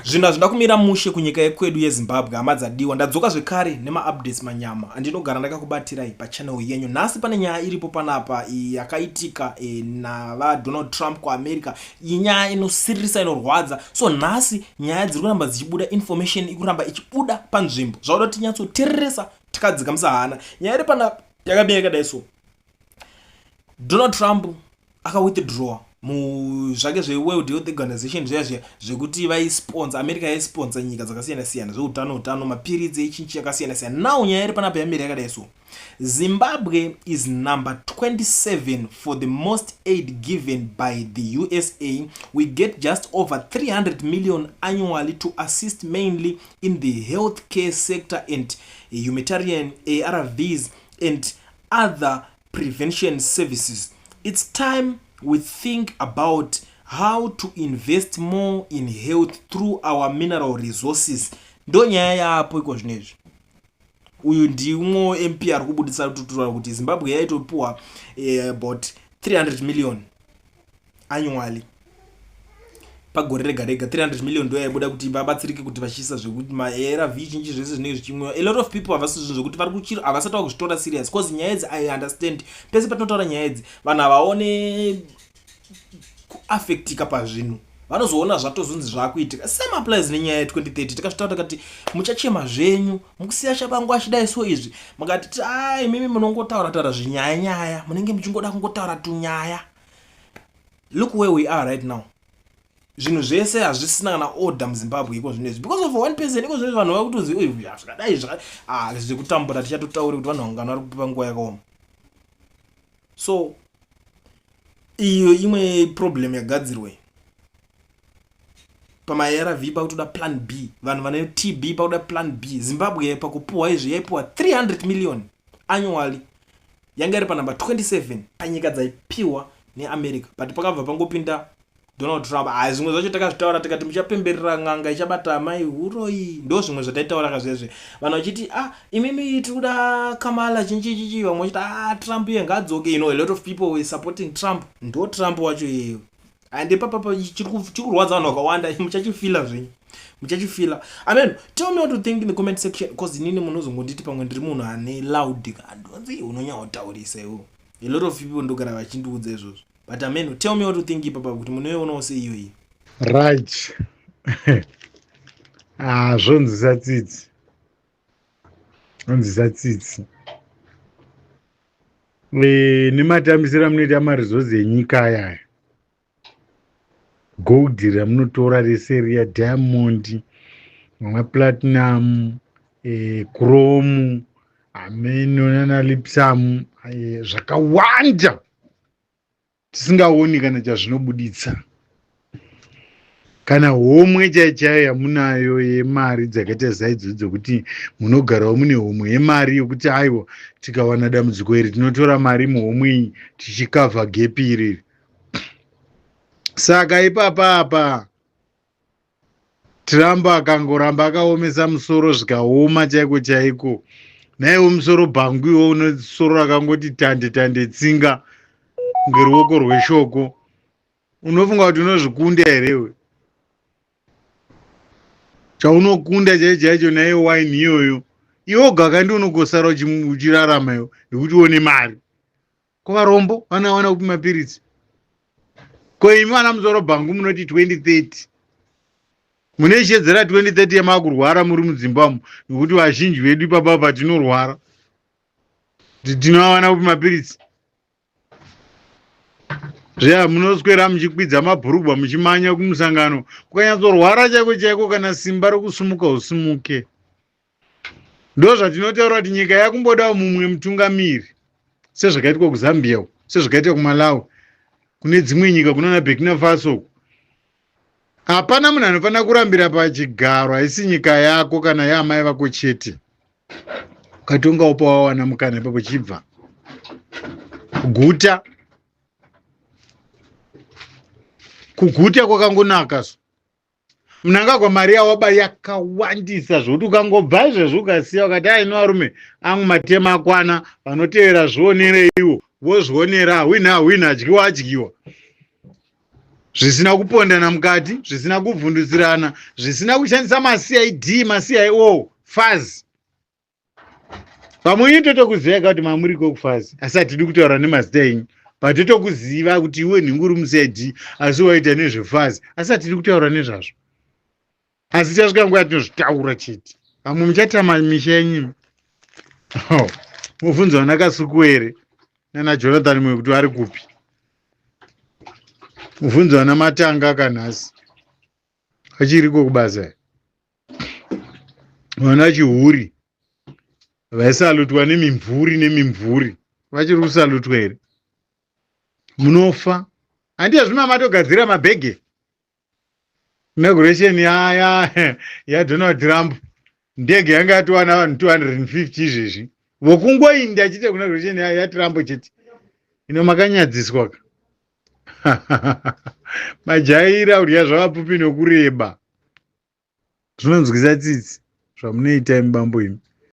Zvinhu hazvina kumira mushe kunyika yekwedu yeZimbabwe hama dzadiwa ndadzoka zvekare nemaupdates manyama andinogara ndakakubatirai pachannel yenyu nhasi pane nyaya iripo panapa yakaitika e, naVaDonald Trump kuAmerica iyi nyaya inosiririsa inorwadza so nhasi nyaya dziri kuramba dzichibuda information ikuramba ichibuda panzvimbo zvauda tinyatsotereresa tikadzika musahana nyaya iri panapa yakamira yakadai so donald trump akawithdrawa muzvake zveworld health organization zviya zviya zvekuti vaisponsa america yaisponsa nyika dzakasiyana siyana zveutano utano mapiritsi echinchi yakasiyana siyana now nyaya iri panapa yamiri yakadai so zimbabwe is number 27 for the most aid given by the usa we get just over 300 million annually to assist mainly in the health care sector and humanitarian arvs and other prevention services it's time we think about how to invest more in health through our mineral resources ndo nyaya yaapo iko zvino izvi uyu ndimwo mp ari kubudisa tutura kuti zimbabwe yaitopiwa eh, about 300 million annually pagore rega rega 300 million ndo yaibuda kuti vabatsirike kuti vachiisa zvekuti maarv zhinji zvese zvinenge zvichimwiwa a lot of people havasi zvinhu zvekuti vari kuchiro havasati vakuzvitora serious bcause nyaya idzi i understand pese patinotaura nyaya idzi vanhu havaone kuaffectika pazvinhu vanozoona zvatozonzi zvakuitika same applies nenyaya ye 2030 tikasvitaura takati muchachema zvenyu mukusiya shabangu achidai so izvi mukatiti ai mimi munongotaura taura zvinyaya nyaya munenge muchingoda kungotaura tunyaya look where we are right now zvinhu zvese hazvisina kana order muzimbabwe iko zvino izvi because of one person iko zvino vanhu vakutozi zvakadai zvekutambura tichatotauri kuti vanhu vangano vari kupipa nguva yakaoma so iyo imwe problem yagadzirwa pamaarv pakutoda plan b vanhu vane tb pakuda plan b zimbabwe pakupuhwa izvi yaipuhwa 300 million annually yanga iri panumber 27 panyika dzaipiwa neamerica but pakabva pangopinda donald trump a zvimwe zvacho takazvitaura tikati muchapemberera n'anga ichabata amai uroi ndo zvimwe zvataitaura kazvezve vanhu vachiti a ah, imimi tiri kuda kamala chinchichichi vamwe vachiti a ah, trump iye ngaadzoke you know a lot of people were supporting trump ndo trump wacho iyeyo and ipapapa chiri kurwadza vanhu vakawanda muchachifila zvenyu muchachifila i mean tell me what you think in the comment section bcause inini munhu uzongonditi pamwe ndiri munhu ane loud kandonzi unonyaotaurisa iwo a lot of people ndogara vachindiudza izvozvo but ameno tell me what you think ipapa kuti munoionawo seiyoyi raj ah, zvonzisa tsitsi zvonzisa tsitsi e, nematambisira munoita marizozi enyika ayaya gold ramunotora rese riya diamond maplatinum e, eh, chrome ameno nanalipsam e, eh, zvakawanda tisingaoni kana chazvinobuditsa kana homwe chaiyo chaiyo yamunayo yemari dzakaita zaidzo dzokuti munogarawo mune homwe yemari yokuti aiwa tikawana dambudziko iri tinotora mari muhomwe iyi tichikavha gepi iriri saka ipapa apa Trump akangoramba akaomesa musoro zvikaoma chaiko chaiko naiwo musoro bhangu iwo une soro rakangoti tande tande tsinga ngeruoko rweshoko unofunga kuti unozvikunda here iwe chaunokunda chaicho chaicho naye wine iyoyo iwoga kandi unogosara uchirarama iwe nekuti uone mari ko varombo vanawana kupi mapiritsi ko imi vana muzoro bhangu munoti 2030 mune ishedzera 2030 yamakurwara muri mudzimbamo nokuti vazhinji vedu ipapa patinorwara tinoawana kupi mapiritsi zveya munoswera muchikwidza mabhurugwa muchimanya kumusangano kukanyatsarwara chaiko chaiko kana simba rokusumuka usimuke ndozvatinotaura kuti nyika yakumbodawo mumwe mutungamiri sezvakaitwa kuzambia uku sezvakaitwa kumalawi kune dzimwe nyika kunana burkina faso uku hapana munhu anofanira kurambira pachigaro haisi nyika yako kana yaamai vako chete ukatonga upa wawana mukana ipapo chibva kuguta kuguta kwakangonaka so mnangagwa mari yawaba yakawandisa zvokuti ukangobva izvezvi ukasiya ukati aino varume angu matema akwana vanotevera zvionereiwo vozvionera hwina hwina adyiwa adyiwa zvisina kupondana mukati zvisina kubvundutsirana zvisina kushandisa macid macio faz pamwe inyu totokuziva ka kuti mamuri ko kufazi asi hatidi kutaura nemazita enyu but totokuziva kuti iwe nhingi uri musedi asi waita nezvefazi asi hatidi kutaura nezvazvo asi tichasvika nguva yatinozvitaura chete vamwe muchatama misha yenyu oh, mubvunzo vana kasukuwere nana jonathan mwe kuti vari kupi mubvunzo vana matanga kanhasi achiriko kubasa vana chihuri vaisalutwa nemimvuri nemimvuri vachiri kusalutwa here munofa handiya zvima matogadzira mabhege inauguration yaya yadonald trump ndege yanga yatowana vanhu 250 izvezvi vokungoinda achiita kunauguration yatrump chete ino makanyadziswa ka majaira kudya zvavapupi nokureba zvinonzwisa tsitsi zvamunoita imi bambo imi